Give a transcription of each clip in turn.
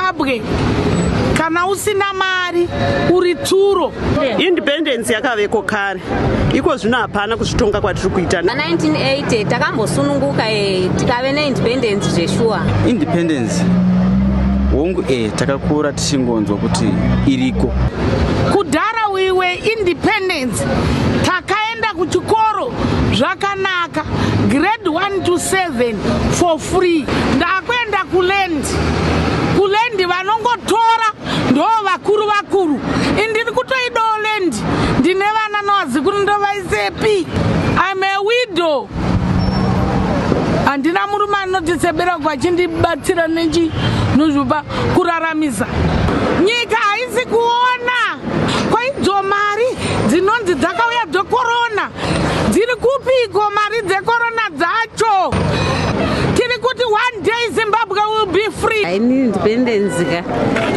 Zimbabwe kana usina mari uri turo independence yakaveko kare iko zvino hapana kuzvitonga kwatiri kuita 1980 takambosununguka e tikave neindependence zveshuwa independence hongu e takakura tichingonzwa kuti iriko kudhara wiwe independence takaenda kuchikoro zvakanaka grade 1 to 7 for free ndakuenda kulen kulendi vanongotora ndo vakuru vakuru indiri kutoidawo lendi ndine vana nowazikuru ndovaisepi im a widow handina murume anotisebera uko achindibatsira nechi nozvopa kuraramisa nyika haisi kuona kwaidzo mari dzinonzi dzakauya dzokorona Dziri kupiko mari dzekorona dzacho? Tiri kuti one day Zimbabwe will be free. Haini independence ka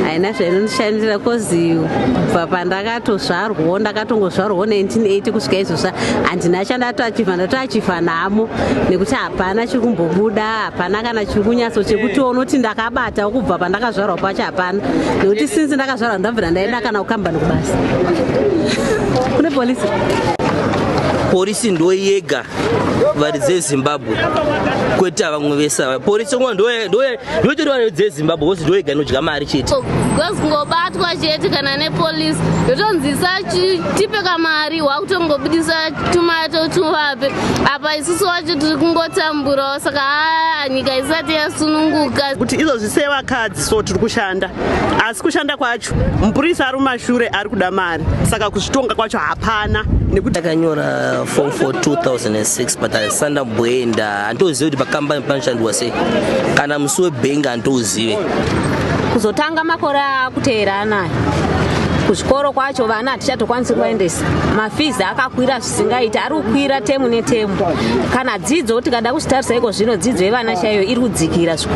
haina zvainondishandira kozi kubva pandakatozvarwawo ndakatongozvarwawo 1980 kusvika izvozva handina chandatoachiva ndatoachiva nhamo nekuti hapana chiri kumbobuda hapana kana chiri kunyaso chekuti unoti ndakabata kubva pandakazvarwa pacho hapana nekuti since ndakazvarwa ndabvira ndaenda kana kukambani kubasa kune polisi porisi ndo yega varidze zimbabwe kwete vamwe vese ava porisi ndo yotorwa yodzezimbabwe kozi ndoyega inodya mari chete oh, bcause kungobatwa chete kana nepolice yotonzisa tipe kamari wakutongobudisa tumato tuvape apa isusu wacho tiri kungotamburawo saka haa nyika isati yasununguka kuti izvozvi sevakadzi so tiri kushanda asi kushanda kwacho mupurisa ari mumashure ari kuda mari saka kuzvitonga kwacho hapana nekuti akanyora form for 2006 but asanda mboenda Handouzive kuti pakambani panoshandurwa sei kana musi webhengi handouzive. Kuzotanga makore akuteera anaya kuzvikoro kwacho vana hatichatokwanisi kuvaendesa mafizi akakwira zvisingaiti ari kukwira temu netemu kana dzidzo tikada kuzvitarisa iko zvino dzidzo yevana chaiyo iri kudzikira zvikuru